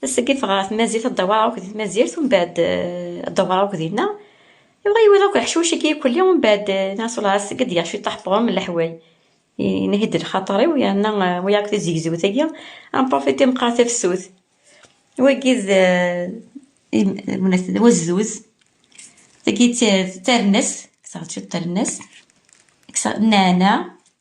Tasegit ɣer tmazirt ad dawar akk di tmazirt u mbaɛd ad dawar akk dinna. Iwa iwala akk leḥcuc i k-ikulli u mbaɛd neɣ s lɛas i k-d-yaɣ cwiṭ aḥeṭrum n leḥway. Inhi-d lxaṭer-iw yerna wiyaḍ akk tizegzewt-agi ad nprofiti ad nqar tafsut. Wagi d d wazduz. Tagi d tarennast, kkseɣ-d cwiṭ n tarennast, kkseɣ nneɛneɛ,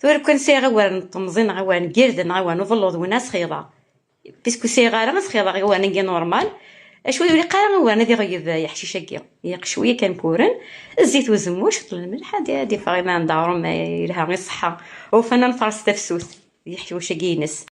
Tura kwan sɛiɣ awal n temẓi neɣ awal n girden neɣ awal n uḍelluḍ win ad sxiḍeɣ. Pisku sɛiɣ ara ad sxiḍeɣ awal n normal. Acu ur ilaq ara awal ad iɣeyyeb yeḥcic-agi. Ilaq cwiya kan kuren, zzit n uzemmur, ciṭ n lmelḥ ad d-iffeɣ iman d aɣrum yelha i ṣṣeḥḥa. Ufan ad nfaṛes tafsut d yeḥcic-agi-ines.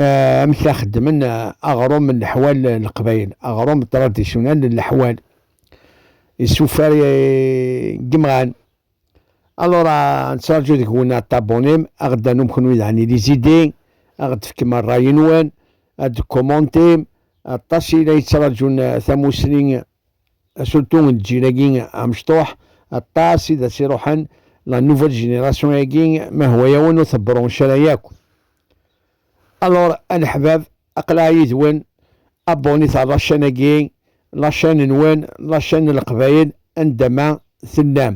Eh, amek la xeddmen eh, aɣrum n leḥwal n eh, leqbayel aɣrum tradisyunal n leḥwal isufar gemɣan alors nettraǧu deg-wen aṭabunim a ɣ-d-tanum kenwi daɣen i lizidi a ɣ-d-tefkem rray-nwen ad d-kumontim aṭas i la yettraǧun tamusni surtout n lǧil-agi amecṭuḥ aṭas i d as-iruḥen la nouvelle génération-agi ma hwa-yawen ur tebronc ara yakk Alors, aneḥbab, aqlaɣ yid-wen, abonit ar lačan-agi, lačan-nwen, lačan n Leqbayel, anda ma tellam,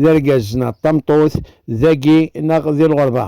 d argaz neɣ d tameṭṭut, dagi neɣ di lɣerba.